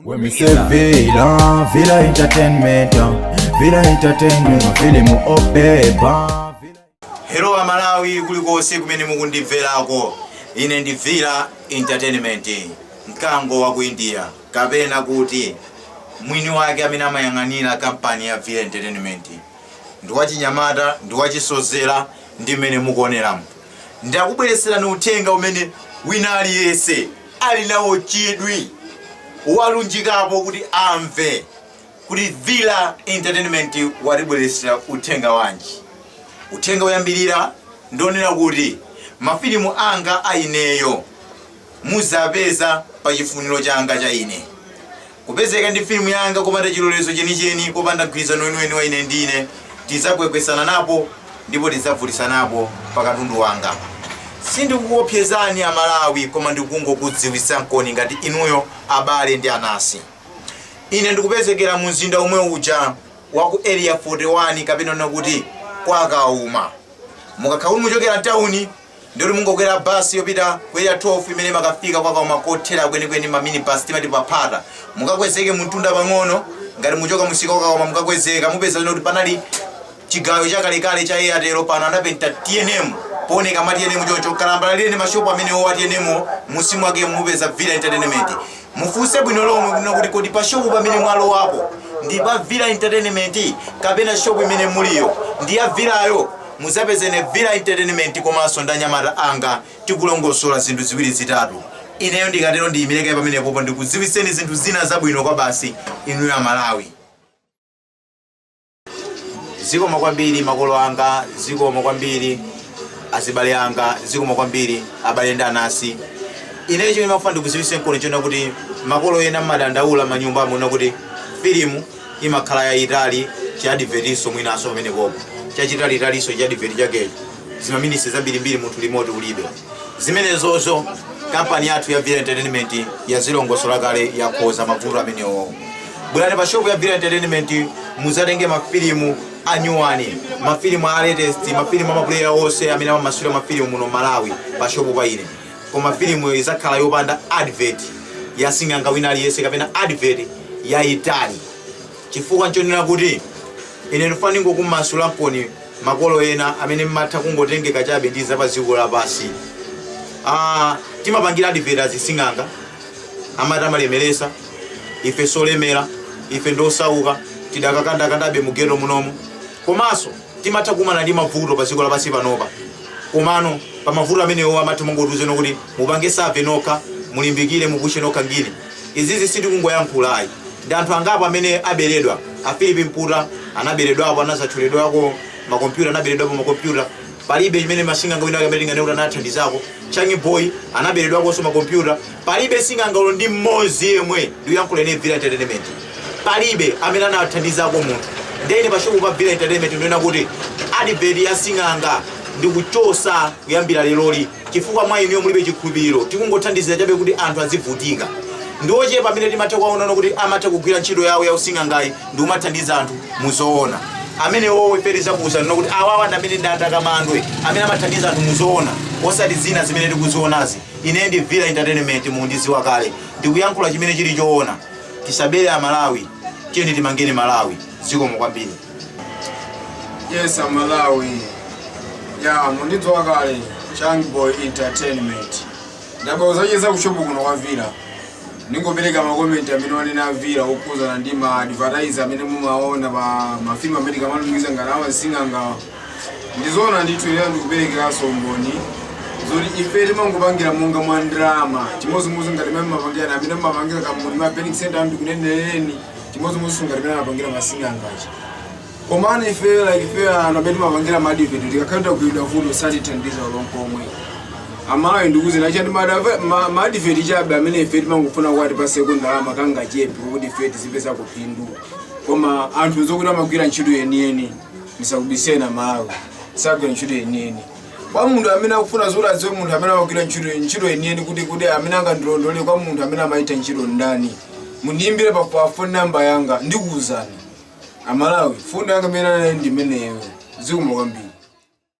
When we say Villa, Villa Entertainment, uh, Villa Entertainment, uh, mafilimu obeba. Hello a Malawi kulikonse kumene mukundimverako ine ndi Villa Entertainment mkango wa ku India kapena kuti mwini wake amene amayang'anira kampani ya Villa Entertainment ndi wachinyamata ndi wachisozera ndi mmene mukuoneramu ndakubweretserani uthenga umene wina aliyense ali nawo chidwi walunjikapo kuti amve kuti villa entertainment watibweretsera uthenga wanji uthenga woyambirira ndi wonena kuti mafilimu anga a ineyo muzapeza pa chifuniro changa cha ine Kupezeka ndi filimu yanga kopanda chilolezo chenicheni, kopanda mgwirizano weniweni wa ine ndi ine, tidzakwekwesana napo ndipo tidzabvutisanapo pa katundu wanga. Sindikukuopsezani a Malawi koma ndikungokudziwitsankoni ngati inuyo abale ndi anasi. Ine ndikupezekera mu mzinda omwe uja wa ku Area 41 kapena kunena kuti kwa Kauma. Mukakhala kuti muchokera mtauni, ndi kuti mungokwera bus yopita ku area 12 imene imakafika kwa kauma kothera kwenikweni ma minibus timati pa phata mukakwezeke mumtunda pang'ono ngati muchoka musika kwa kauma mukakwezeka mupeza kuti panali chigayo chakalekale cha airtel pano anapenta tnm pooneka ma tnm choncho kalambala lili ndi mashopu amene owa tnm m'munsi mwake mupeza villa entertainment Mufunse bwino lomwe kunena kuti kodi pa shop pamene mwalowapo ndi pa Villa Entertainment kapena shop imene muliyo ndi ya Villayo muzapeze ine Villa Entertainment komanso ndi anyamata anga tikulongosola zinthu ziwiri zitatu. Ineyo ndikatero ndiyimire kaye pamenepopo ndikudziwitseni zinthu zina zabwino kwabasi inuyo Amalawi. zikomo kwambiri makolo anga zikomo kwambiri azibale anga zikomo kwambiri abale ndi anasi ine chimene ndimafuna ndikuziwisenkoni chonena kuti makolo ena mmadandaula m'manyumbamu kunena kuti filimu imakhala yayitali chiadivetiso mwinaso pamenepopo chachitalitaliso chiadiveti chakecho zimaminisi zambirimbiri munthu limoti ulibe zimenezozo kampani yathu ya villa entertainment yazilongosola kale yakonza mavuto amenewo bwerani pa shopu ya Villa Entertainment muzatenge mafilimu anyuwani mafilimu a latest mafilimu a mapuleya onse amene amamasula mafilimu muno Malawi pa shopu pa ine koma filimu izakhala yopanda advert ya sing'anga wina aliyense kapena advert yaitali chifukwa nchonena kuti ine ndifuna ndingokumasulankoni makolo ena amene mmatha kungotengeka chabe ndi za pa dziko lapansi ah, timapangira advert azising'anga amati amalemeresa ife solemera ife ndosauka tidakakandakandabe mu geto munomu komanso timatha kukumana ndi mavuto pa dziko lapansi panopa komano pa mavuto amenewo amatha kungotiuzano kuti mupange save nokha mulimbikire mupushe nokha ngini izizi sitikungoyankhula ayi ndi anthu angapo amene aberedwa a filipi mputa anaberedwapo anazatchuledwako makompyuta anaberedwapo makompyuta palibe chimene masing'anga wina wake amene tinganene kuti anathandizako changi boy anaberedwakonso makompyuta palibe sing'anga olo ndi mmodzi yemwe ndikuyankhula ine villa entertainment palibe amene anathandizako munthu ndene pashopu pa villa entertainment ndaona kuti advert ya sing'anga ndikuchosa kuyambira leroli chifukwa mwa ineyo mulibe chikhulupiriro. Tikungothandizira chabe kuti anthu azivutika. Ndi ochepa amene timatha kuwaona kuti amatha kugwira ntchito yawo ya using'angayi ndi kumathandiza anthu mu zoona. Amenewowo ife tizakuwuzani kuti awawa ndi amene ndi atakamandwe amene amathandiza anthu mu zoona osati zina zimene tikuzionazi. Ine ndi Villa Entertainment mundidziwa kale. Ndikuyankhula chimene chili choona. Tisabere aMalawi. Tiyeni timangeni Malawi. Zikomo kwambiri. Yes, aMalawi. Yeah, mundidziwa kale Changi Boy Entertainment. Ndabwera kudzacheza kushopu kuno kwa Villa. Ndingopereka makomenti amene wanena a Villa okhudzana ndi ma advertiser amene mumaona pa mafilimu amene timalumikiza ngati awa asing'anga. Ndizoona ndithu ine ndikuperekeranso umboni zoti ife timangopangira monga mwa ndalama chimodzimodzi ngati mmene mmapangira amene mmapangira kampuni ma Phoenix Center ndikuneneleni chimodzimodzinso ngati mmene amapangira masing'anga aja komano ife like ife anthu amene timapangira ma advert tikakhala tagwidwa vuto satithandiza olo nkomwe amalawi ndikuuzeni chani ndi ma advert chabe amene ife timangofuna kuti atipaseko ndalama kangachepe kuti ife tizipeza phindu koma anthu zokuti amagwira ntchito yeniyeni ndisakubiseni amalawi sagwira ntchito yeniyeni kwa munthu amene akufuna zoti adziwe munthu amene amagwira ntchito ntchito yeniyeni kuti kuti amene angandilondole kwa munthu amene amagwira ntchito ndani mundiyimbire pa pa phone number yanga ndikuwuzani amalawi phone yanga imene anali ndi imeneyo zikomo kwambiri